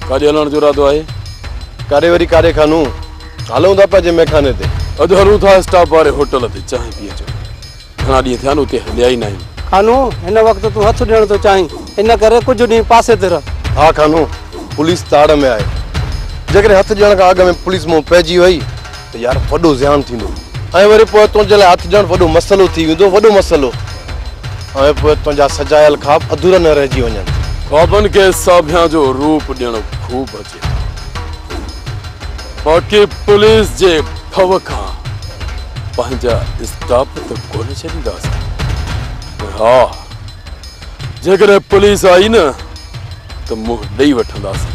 ڪاڏي هلڻ جو ارادو آهي؟ ڪاڏي وري ڪاڏي خانو هلون ٿا پنهنجي مئخاني تي. اڄ هلون ٿا اسٽاپ واري هوٽل تي چانهه پي اچڻ. گهڻا ڏينهن ٿيا آهن اتي هليا ئي ناهيون. خانو هن وقت تون هٿ ڏيڻ ٿو چاهين ان ڪري ڪجهه ڏينهن پاسي تي رهه. ها خانو پوليس تاڙ ۾ آهي جيڪڏهن هٿ ڏيڻ کان اڳ ۾ پوليس منهن پئجي وئي ته يار وڏو زيان ٿيندو ۽ وري پوء تنهنجي لاء هٿ ڏيڻ وڏو مسئلو ٿي ويندو، وڏو مسئلو ۽ پوء تنهنجا سجايل خواب اڌورا نه رهجي وڃن. خوابن کي ساڀيان جو روپ ڏيڻ خوب اچي ٿو باقي پوليس جي ڀؤ کان پنهنجا اسٽاپ ته ڪونه ڇڏينداسين ۽ ها جيڪڏهن پوليس آئي نه ته منهن ڏئي وٺنداسين.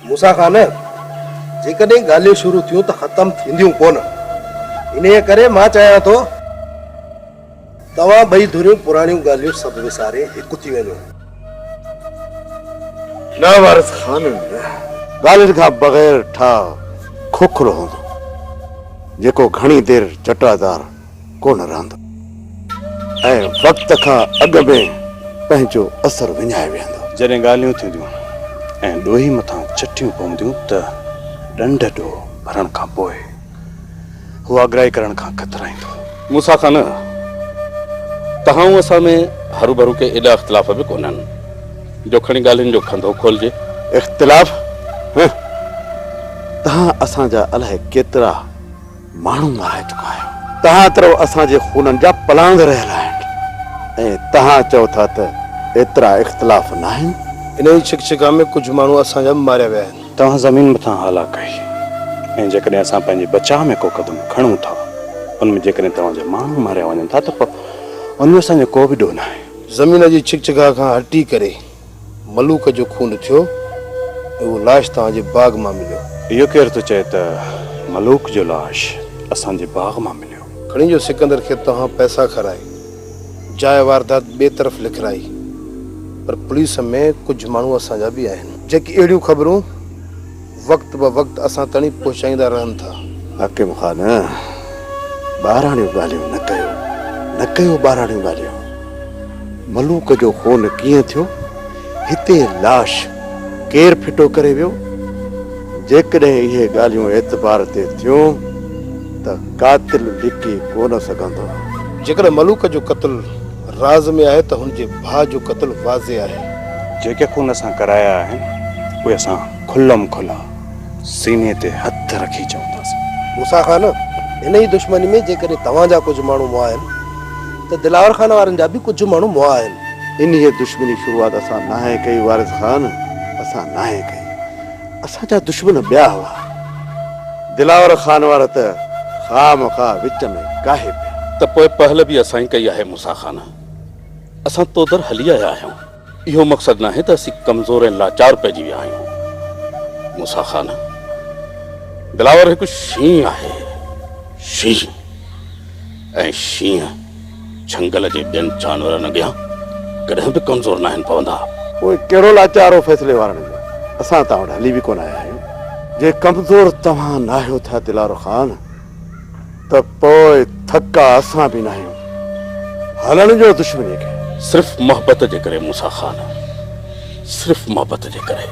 موسيٰ خان! جيڪڏهن ڳالهيون شروع ٿيون ته ختم ٿينديون ڪونه. انهيء ڪري مان چاهيان ٿو توهان ٻئي ڌريون پراڻيون ڳالهيون سڀ وساري هڪ ٿي وڃو. نه وارث خان! ڳالهين کان بغير ٺاهه کوکلو هوندو، جيڪو گهڻي دير چٽا ڌار ڪونه رهندو ۽ وقت کان اڳ ۾ پنهنجو اثر وڃائي ويهندو. جڏهن ڳالهيون ٿينديون ۽ ڏوهي مٿان چٽيون پونديون ته ڏنڍ ڏوهه ڀرڻ کان پوء هو آگرائي ڪرڻ کان ڪترائيندو. موسيٰ کان نه، توهان ۽ اسان ۾ هروڀرو ڪي ايڏا اختلاف به ڪونهن جو کڻي ڳالهين جو کنڌو کولجي. اختلاف؟ هه! توهان اسان جا الائي ڪيترا ماڻهو مارائي چڪا آهيو. توهان ترو اسان جي خونن جا پلاند رهيل آهن ۽ توهان چئو ٿا ته ايترا اختلاف ناهن. انهيء ڇڪڇڪان ۾ ڪجهه ماڻهو اسان جا به ماريا ويا آهن. توهان زمين مٿان هالا ڪئي ۽ جيڪڏهن اسان پنهنجي بچاء ۾ ڪو قدم کڻون ٿا، ان ۾ جيڪڏهن توهان جا ماڻهو ماريا وڃن ٿا ته پوء ان جو اسان جو ڪو به ڏوهه ناهي. زمين جي ڇڪڇڪاء کان هٽي ڪري. ملوڪ جو خون ٿيو ۽ اهو لاش توهان جي باغ مان مليو. اهو ڪير ٿو چئي ته ملوڪ جو لاش اسان جي باغ مان مليو. کڻي جو سڪندر کي توهان پئسا کارائي جاء واردات ٻئي طرف لکرائي پر پوليس ۾ ڪجهه ماڻهو اسان جا به آهن جيڪي اهڙيون خبرون. وقت به وقت اسان تائين پهچائيندا رهن ٿا. حاڪم خان، ٻاراڻيون ڳالهيون نه ڪيو، نه ڪيو ٻاراڻيون ڳالهيون. ملوڪ جو خون ڪيئن ٿيو؟ هتي لاش ڪير ڦٽو ڪري ويو؟ جيڪڏهن اهي ڳالهيون اعتبار تي ٿيون ته قاتل لڪي ڪونه سگهندو. جيڪڏهن ملوڪ جو قتل راز ۾ آهي ته هن جي ڀاء جو قتل واضح آهي. جيڪي خون اسان ڪرايا آهن، اهي اسان. کلم کلا سيني تي هٿ رکي چونداسين. موسيٰ خان، انهيء دشمني ۾ جيڪڏهن توهان جا ڪجهه ماڻهو مئا آهن ته دلاور خان وارن جا به ڪجهه ماڻهو مئا آهن. انهيء دشمني جي شروعات اسان ناهي ڪئي وارث خان، اسان ناهي ڪئي. اسان جا دشمن ٻيا هئا. دلاور خان وار ته خواهه مخواهه وچ ۾ ڪاهي پيا. ته پوء پهل به اسان ئي ڪئي آهي موسيٰ خان. اسان تودر هلي آيا آهيون. اهو مقصد ناهي ته اسين ڪمزور ۽ لاچار پئجي ويا آهيون موسيٰ خان. دلاور هڪ شينهن آهي، شينهن. ۽ شينهن جهنگل جي ٻين جانورن اڳيان ڪڏهن به ڪمزور ناهن پوندا. پوء ڪهڙو لاچار هو فيصلي وارن جو؟ اسان توهان وٽ هلي به ڪونه آيا آهيون. جي ڪمزور توهان ناهيو ٿا دلاور خان ته پوء ٿڪا اسان به ناهيون، هلڻ ڏيو دشمنيء کي. صرف محبت جي ڪري موسيٰ خان، صرف محبت جي ڪري.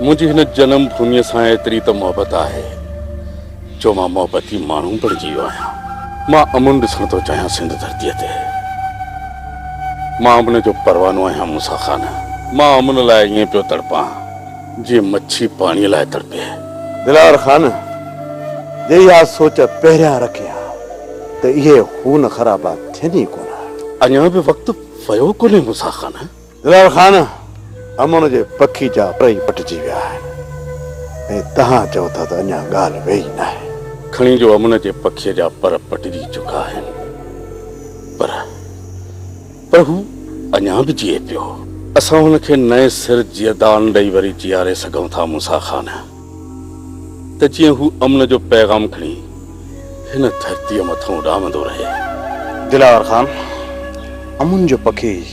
منهنجي هن جنم ڀوميء سان ايتري ته محبت آهي، جو مان محبتي ماڻهو بڻجي ويو آهيان. مان امن ڏسڻ ٿو چاهيان سنڌ ڌرتيء تي. مان امن جو پروانو آهيان موسيٰ خان. مان امن لاء ائين پيو تڙپان. جيئن مڇي پاڻيء لاء تڙپي. دلاور خان! جي اها سوچ پهريان رکين ها ته اهي خون خرابا ٿين ئي ڪونه ها. اڃا به وقت ويو ڪونهي موسيٰ خان! دلاور خان! امڙ جي پکي جا پر ئي پٽجي ويا آهن ۽ توهان چئو ٿا ته اڃا ڳالهه ويئي ئي ناهي. کڻي جو امڙ جي پکي جا پر پٽجي چڪا آهن پر. پر هو اڃا به جيئي پيو. اسان هن کي نئين سر جيئدان ڏئي وري جيئاري سگهون ٿا موسيٰ خان، ته جيئن هو امن جو پيغام کڻي هن ڌرتيء مٿان اڏامندو رهي. دلاور خان، امن جو پکي ئي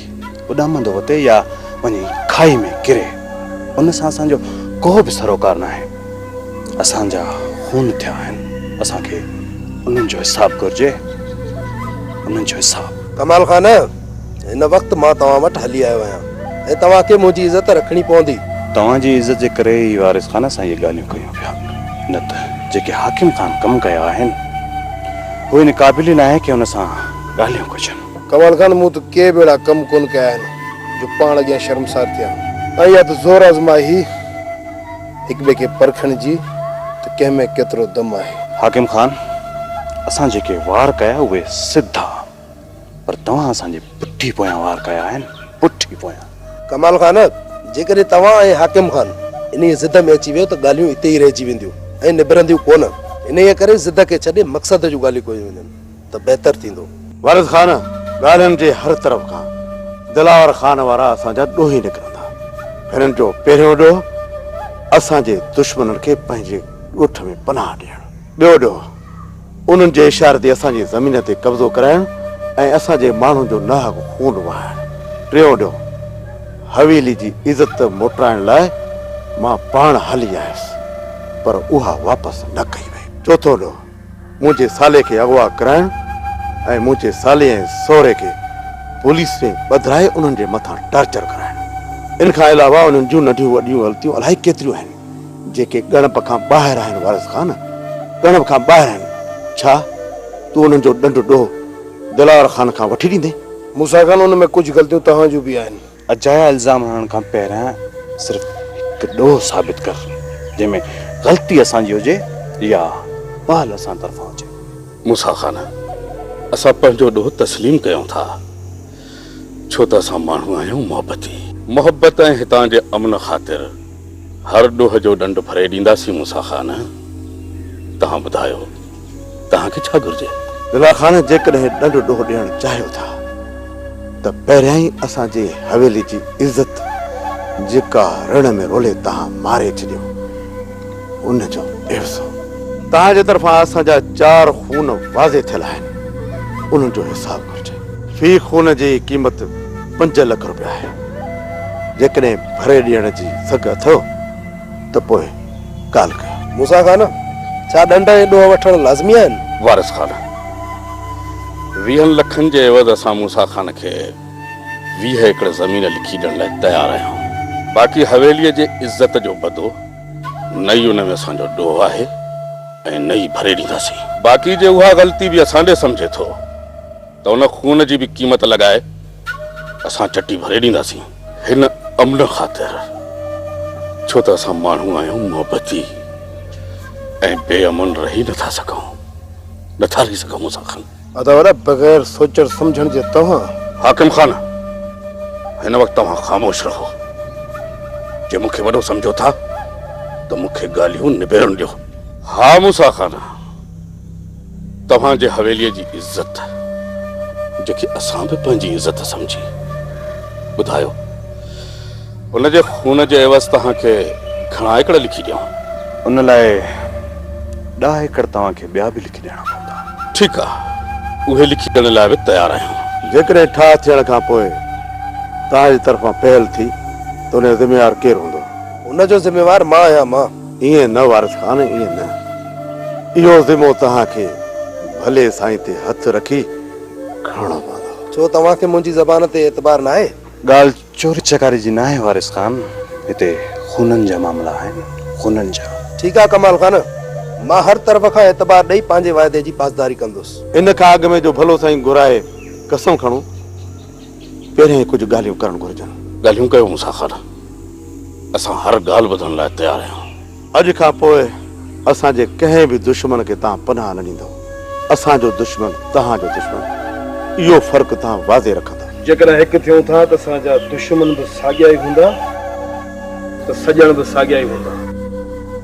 اڏامندو وتي يا وڃي کاهي ۾ ڪري، ان سان اسان جو ڪو به سروڪار ناهي. اسان جا خون ٿيا آهن اسان کي انهن جو حساب گهرجي انهن جو حساب. ڪمال خان هن وقت مان توهان وٽ هلي آيو آهيان ۽ توهان کي منهنجي عزت رکڻي پوندي. توهان جي عزت جي ڪري ئي وارث خان اسان اهي ڳالهيون ڪيون پيا نه ته جيڪي حاڪم خان ڪم ڪيا آهن هو ان قابل ئي ناهي ڪي هن سان ڳالهيون ڪجن. ڪمال خان مون ته ڪي به اهڙا ڪم ڪونه ڪيا آهن جو پاڻ اڳيان شرمسار ٿيان. ۽ اها ته زور آزمائي هئي. هڪٻئي کي پرکڻ جي ته ڪنهن ۾ ڪيترو دم آهي. حاڪم خان، اسان جيڪي وار ڪيا اهي سڌا پر توهان اسان جي پٺي پويان وار ڪيا آهن، پٺي پويان. ڪمال خان، جيڪڏهن توهان ۽ حاڪم خان انهيء ضد ۾ اچي ويو ته ڳالهيون اتي ئي رهجي وينديون ۽ نبرنديون ڪونه. انهيء ڪري ضد کي ڇڏي مقصد جون ڳالهيون ڪيون وڃن. ته بهتر ٿيندو. وارث خان، ڳالهين جي هر طرف کان دلاور خان وارا اسان جا ڏوهي نڪرندا. هنن جو پهريون ڏوهه اسان جي دشمنن کي پنهنجي ڳوٺ ۾ پناهه ڏيڻ. ٻيو ڏوهه انهن جي اشاري تي اسان جي زمين تي قبضو ڪرائڻ ۽ اسان جي ماڻهن جو ناحق خون وهائڻ. ٽيون ڏوهه حويلي جي عزت موٽرائڻ لاء مان پاڻ هلي آيس پر اها واپس نه ڪئي وئي. چوٿون ڏوهه منهنجي سالي کي اغوا ڪرائڻ ۽ منهنجي سالي ۽ سهري کي پوليس ۾ ٻڌرائي انهن جي مٿان ٽارچر ڪرائڻ. ان کان علاوه انهن جون ننڍيون وڏيون غلطيون الائي ڪيتريون آهن، جيڪي ڳڻپ کان ٻاهر آهن وارث خان، ڳڻپ کان ٻاهر آهن. ڇا تون انهن جو ڏنڊ ڏوهه دلاور خان کان وٺي ڏيندين؟ موسيٰ خان ان ۾ ڪجهه غلطيون توهان جون به آهن. اجايا الزام هڻڻ کان پهريان صرف هڪ ڏوهه ثابت ڪر جنهن ۾ غلطي اسان جي هجي يا پهل اسان طرفان هجي. موسيٰ خان! اسان پنهنجو ڏوهه تسليم ڪيون ٿا ڇو ته اسان ماڻهو آهيون محبتي. محبت ۽ هتان جي امن خاطر هر ڏوهه جو ڏنڊ ڦري ڏينداسين موسيٰ خان! توهان ٻڌايو. توهان کي ڇا گهرجي؟ دلال خان جيڪڏهن ڏنڊ ڏوهه ڏيڻ چاهيو ٿا ته پهريائين اسان جي حويلي جي عزت جيڪا رڻ ۾ رولي توهان ماري ڇڏيو ان جو عيوضو. توهان جي طرفان اسان جا چار خون واضح ٿيل آهن انهن جو حساب گهرجي. في خون جي قيمت پنج لک روپيا آهي جيڪڏهن ڀري ڏيڻ جي سگهه اٿئو ته پوء ڳالهه ڪيو. موسيٰ خان! ڇا ڏنڊ ۽ ڏوهه وٺڻ لازمي آهن؟ وارث خان! ويهن لکن جي عوض اسان موسيٰ خان کي ويهه ايڪڙ زمين لکي ڏيڻ لاء تيار آهيون. باقي حويليء جي عزت جو بدو، نه ئي ان ۾ اسان جو ڏوهه آهي ۽ نه ئي ڀري ڏينداسين. باقي جي اها غلطي به اسان ڏي سمجهي ٿو ته ان خون جي به قيمت لڳائي اسان چٽي ڀري ڏينداسين. هن امن خاطر، ڇو ته اسان ماڻهو آهيون محبتي ۽ بي امن رهي نه ٿا سگهون، نه ٿا رهي سگهون اسان کان. ادا وڏا بغير سوچڻ سمجهڻ جي توهان. حاڪم خان، هن وقت توهان خاموش رهو. جي مون کي وڏو سمجهو ٿا ته مون کي ڳالهيون نبيرڻ ڏيو. ها موسيٰ خان! توهان جي حويليء جي عزت، جيڪي اسان به پنهنجي عزت سمجهي، ٻڌايو، ان جي خون جي عيوض توهان کي گهڻا ايڪڙ لکي ڏيون؟ ان لاء ڏهه ايڪڙ توهان کي ٻيا به لکي ڏيڻا پوندا. ٺيڪ آ، اهي لکي ڏيڻ لاء به تيار آهيون. جيڪڏهن ٺاهه ٿيڻ کان پوء توهان جي طرفان پهل ٿي ته ان جو ذميوار ڪير هوندو؟ ان جو ذميوار مان آهيان، مان. ائين نه وارث خان ائين نه. اهو ذمو توهان کي ڀلي سائين تي هٿ رکي کڻڻو پوندو. ڇو توهان کي منهنجي زبان تي اعتبار ناهي؟ ڳالهه چوري چڪاري جي ناهي وارث خان. هتي خونن جا معاملا آهن خونن جا. ٺيڪ آهي ڪمال خان. مان هر طرف کان اعتبار ڏئي پنهنجي واعدي جي پاسداري ڪندس. ان کان اڳ ۾ جو ڀلو سائين گهرائي قسم کڻون پهريائين ڪجهه ڳالهيون ڪرڻ گهرجن. ڳالهيون ڪيو مون سان خان. اسان هر ڳالهه ٻڌڻ لاء تيار آهيون. اڄ کان پوء اسان جي ڪنهن به دشمن کي توهان پناهه نه ڏيندؤ. اسان جو دشمن توهان جو دشمن. اهو فرق توهان واضح رکندؤ. جيڪڏهن هڪ ٿيون ٿا ته اسان جا دشمن به ساڳيا ئي هوندا ته سڄڻ به ساڳيا ئي هوندا.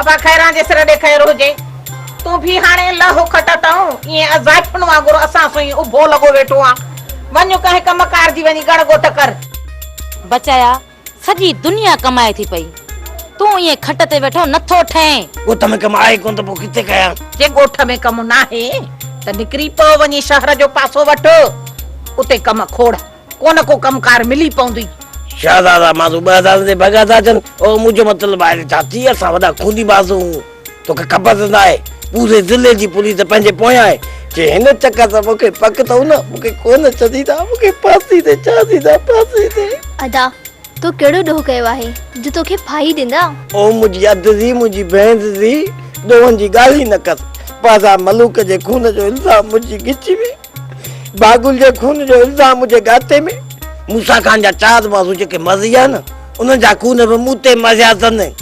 ابا خيران جي سر ڏي خير هجي. تون ڀي هاڻي لهه کٽ اتئون، ائين اضائفن وانگر اسان سون ئي اڀو لڳو ويٺو آن. وڃ ڪنهن ڪم ڪار جي وڃي ڳڻ ڳوت ڪر. بچايا، سڄي دنيا ڪمائي ٿي پئي، تون ائين کٽ تي ويٺو نه ٿو ٺهين. ڳوٺ ۾ ڪم آهي ڪونه ته پوء ڪٿي ڪيان. جي ڳوٺ ۾ ڪم ناهي ته نڪري پئو وڃي شهر جو پاسو وٺ، اتي ڪم کوڙ. ڪو نه ڪو ڪم ڪار ملي پوندي. شهزادا ماضو ٻه هزارن تي ڀڳا ٿا اچن. اوهو منهنجو مطلب آهي ته ڇا ٿي اسان وڏا خوني ماضو آهون. توکي خبر ته ناهي پوري ضلعي جي پوليس پنهنجي پويان آهي. جي هن چڪر سان مون کي پڪ اٿئون نه مون کي ڪو نه ڇڏيندا. مون کي ڦاسي تي چاڙهيندا ڦاسي تي. ادا تو ڪهڙو ڏوهه ڪيو آهي جو توکي ڦاهي ڏيندا. اوهو منهنجي اڌ ڌي منهنجي ڀيڻ جي ڌي ڏوهن جي ڳالهه ئي نه ڪر. پاجا ملوڪ جي خون جو الزام منهنجي ڳچي ۾. باگل جي خون جو الزام مجھي گاتي ۾. موسيٰ خان جا چار بازو جيڪي مزيا نه انهن جا خون به مون تي مزيا تن. ۽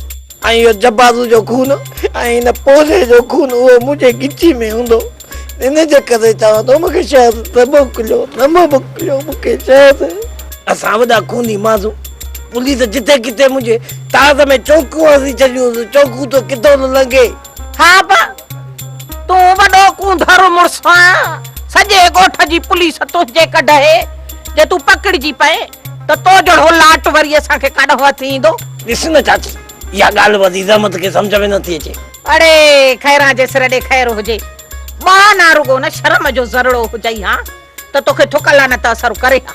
اهو جبازو جو خون ۽ هن پوڙهي جو خون اهو منهنجي ڳچي ۾ هوندو. ان جي ڪري چوان ٿو مونکي شهد نه موڪليو نه موڪليو مونکي شهد. اسان وڏا خوني ماڻهو پوليس جتي ڪٿي منهنجي تاز ۾ چونڪون هڻي ڇڏيون چونڪون ته ڪٿو نه لنگهي. ها با، تون وڏو ڪونڌر مڙس آهين، سڄي ڳوٺ جي پوليس تنهنجي ڪڍهي، جي تون پڪڙجي پئين ته تو جهڙو لاٽ وري اسان کي ڪاڏانهن هٿ ايندو. ڏس نه چاچي، اها ڳالهه به عزيز احمد کي سمجهه ۾ نٿي اچي. اڙي، خيران جي سر ڏي خير هجي، ٻانهه نه رڳو نه شرم جو ذرڙو هجئي ها ته توکي ٿڪ لعنت اثر ڪري ها.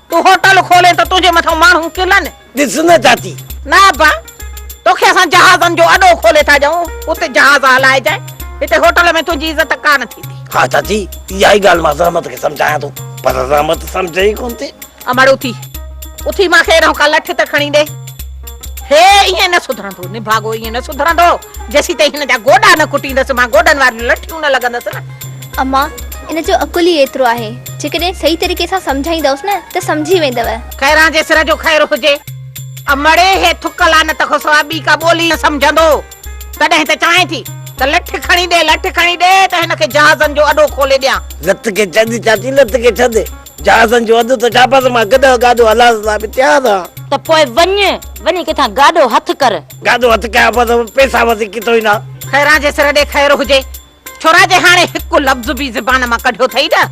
تون هوٽل کولين ته تنهنجي مٿان ماڻهو ڪلن. ڏس نه چاچي. نه ابا، توکي اسان جهازن جو اڏو کولي ٿا ڏيون، اتي جهاز هلائجانء، هتي هوٽل ۾ تنهنجي عزت ڪا نه ٿيندي. ها چاچي، اها ئي ڳالهه مان زحمت کي سمجهايان ٿو، پر زحمت سمجهي ئي ڪونه ٿي. امڙ اٿي، اٿي مان کي اهڙو ڪا لٺ ته کڻي ڏي. هي ائين نه سڌرندو، نڀاڳو ائين نه سڌرندو، جيسيتائين هن جا گوڏا نه ڪٽيندس، مان گوڏن واريون لٺيون نه لڳندس نه. اما، ان جو عقل ئي ايترو آهي، جيڪڏهن صحيح طريقي سان سمجهائيندؤس نه ته سمجهي ويندؤ. خيران جي سر جو خير هجي. امڙي هي ٿڪ لعنت کان سواء ٻي ڪا ٻولي نه سمجهندو. تڏهن ته چاهين ٿي ته لٺ کڻي ڏي، لٺ کڻي ڏي ته هن کي جهازن جو اڏو کولي ڏيان. لت کي ڇڏ چاچي، لت کي ڇڏ. جهازن جو اڏو ته ڇا بس مان گڏهه گاڏو هلائڻ لاء به تيار آهيان. ته پوء وڃ، وڃي ڪٿان گاڏو هٿ ڪر. گاڏو هٿ ڪيان ته پئسا وڌيڪ ڪٿان ايندا؟ خيران جي سر ڏي خير هجي. ڇورا جي هاڻي هڪ لفظ به زبان مان ڪڍيو اٿئي نه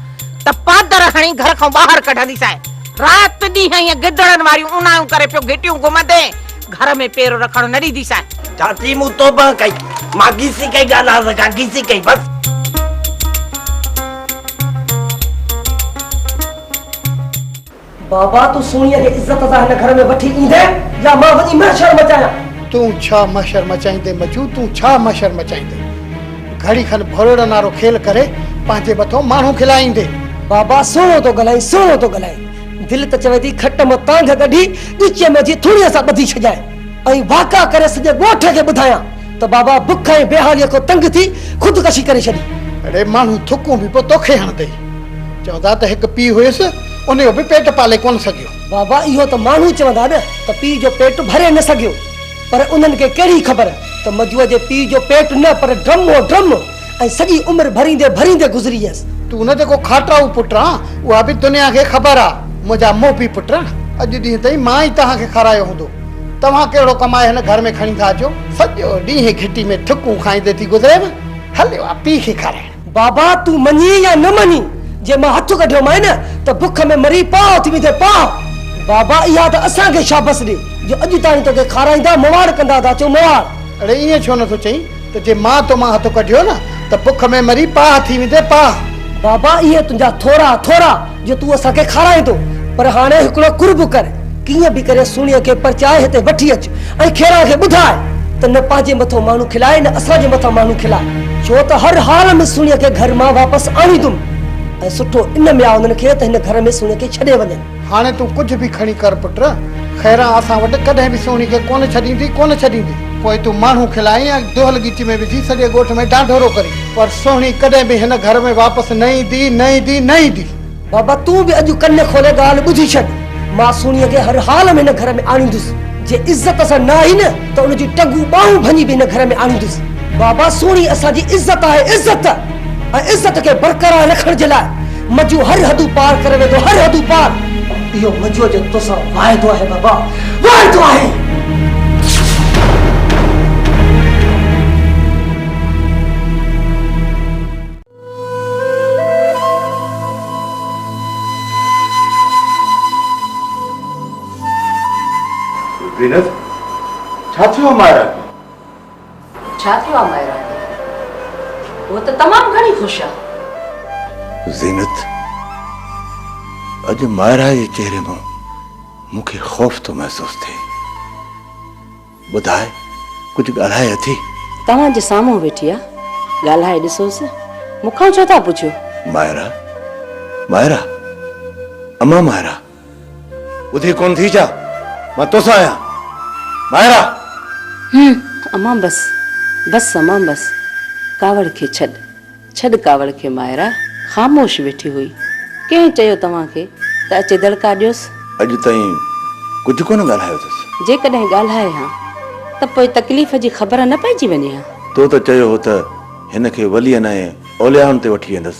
ته پادر هڻي گهر کان ٻاهر ڪڍنديسانء. رات ڏينهن ائين گدڙن واريون اونايون ڪري پيو گهٽيون گهمندين، گهر ۾ پير رکڻ نه ڏينديسانء. چاچي مون توبه ڪئي، مان گيسي ڪئي ڳالهه آز کان گيسي ڪئي بس. بابا تون سهڻيء کي عزت سان هن گهر ۾ وٺي ايندين يا مان وڃي محشر مچايان؟ تون ڇا محشر مچائيندين مجو تون ڇا محشر مچائيندين؟ گهڙي کن ڀولڙن وارو کيل ڪري پنهنجي مٿو ماڻهو کلائيندين. بابا سهڻو ٿو ڳالهائين سهڻو ٿو ڳالهائين دل ته چوي ٿي کٽ مان تانگهه ڪڍي ڳچيء ۾ وجهي ٿوڻيء سان ٻڌي ڇڏيان ۽ واڪا ڪري سڄي ڳوٺ کي ٻڌايان. ته بابا بک ۽ بيحاليء کان تنگ ٿي خودڪشي ڪري ڇڏي. اڙي ماڻهو ٿڪون به پوء توکي هڻندي. چئو ٿا ته هڪ پيء هيس، ان جو به پيٽ پالي ڪونه سگهيو. بابا اهو ته ماڻهو چوندا نه ته پيء جو پيٽ ڀري نه سگهيو، پر انهن کي ڪهڙي خبر ته مجوء جي پيء جو پيٽ نه پر ڊرم هو، ڊرم! ۽ سڄي عمر ڀريندي ڀريندي گذري ويس. تون نه جيڪو کاٽرائو پٽ آن، اها به دنيا کي خبر آ، منهنجا محبي پٽ، اڄ ڏينهن تائين مان ئي توهان کي کارايو هوندو، توهان ڪهڙو ڪمائي هن گهر ۾ کڻي ٿا اچو؟ سڄو ڏينهن گهٽي ۾ ٺڪون کائيندي ٿي گذريم، هليو آ پيء کي کارائڻ. بابا تون مڃين يا نه مڃين، جي مان هٿ ڪڍيومانء ته بک ۾ مري پاهه ٿي ويندين پاهه. بابا اها ته اسان کي شابس ڏي، جو اڄ تائين توکي کارائيندا مواڙ ڪندا ٿا اچون مواڙ. اڙي ائين ڇو نه ٿو چئين؟ ته جي مان تو مان هٿ ڪڍيو نه ته بک ۾ مري پاهه ٿي ويندين پاهه. بابا اهي تنهنجا ٿورا ٿورا جو تون اسان کي کارائيندو پر هاڻي هڪڙو قرب ڪر ڪيئن به ڪري سهڻيء کي پرچائي هتي وٺي اچ ۽ کيران کي ٻڌاء ته نه پنهنجي مٿو ماڻهو کلائي نه اسان جي مٿان ماڻهو کلائي ڇو ته هر حال ۾ سهڻيء کي گهر مان واپس آڻيندم ۽ سٺو ان ۾ آ انهن کي ته هن گهر ۾ سهڻيء کي ڇڏي وڃن. هاڻي تون ڪجهه به کڻي ڪر پٽ، خيران اسان وٽ ڪڏهن به سهڻي کي ڪونه ڇڏيندين، ڪونه ڇڏيندين. پوء تون ماڻهو کلائين يا دهل ڳچي ۾ وجهي سڄي ڳوٺ ۾ ڊانڍورو ڪرين، پر سهڻي ڪڏهن به هن گهر ۾ واپس نه ايندي، نه ايندي، نه ايندي. بابا تون به اڄ ڪن کولي ڳالهه ٻڌي ڇڏ، مان سهڻيء کي هر حال ۾ هن گهر ۾ آڻيندس، جي عزت سان نه آئي نه ته ان جون ٽنگون ٻانهون ڀڃي به هن گهر ۾ آڻيندس. بابا سهڻي اسان جي عزت آهي، عزت! ۽ عزت کي برقرار رکڻ جي لاء مجو هر حدون پار ڪري ويندو هر حدون پار. اهو مجو جو توسان واعدو آهي بابا واعدو آهي. زينت! ڇا ٿيو آهي مائره کي؟ ڇا ٿيو آ مائرا کي؟ هوء ته تمام گهڻي خوش آ. زينت، اڄ مائرا جي چهري مان مون کي خوف ٿو محسوس ٿئي. ٻڌاء ڪجهه ڳالهائي اٿي؟ توهان جي سامهون ويٺي آ، ڳالهائي ڏسوس. مون کان ڇو ٿا پڇو؟ مائرا، مائرا، امان مائرا. ٻڌي ڪونه ٿي ڇا؟ مان توسان آهيان. ٻاهر آ. هم امان بس بس امان بس ڪاوڙ کي ڇڏ ڇڏ ڪاوڙ کي مائرا خاموش ويٺي هئي ڪنهن چيو توهان کي ته اچي دڙڪا ڏيوس؟ اڄ تائين ڪجهه ڪونه ڳالهايو اٿس. جيڪڏهن ڳالهائي ها ته پوء تڪليف جي خبر نه پئجي وڃي ها. تو ته چيو هو ته هن کي ولين ۽ اوليائن تي وٺي ويندس.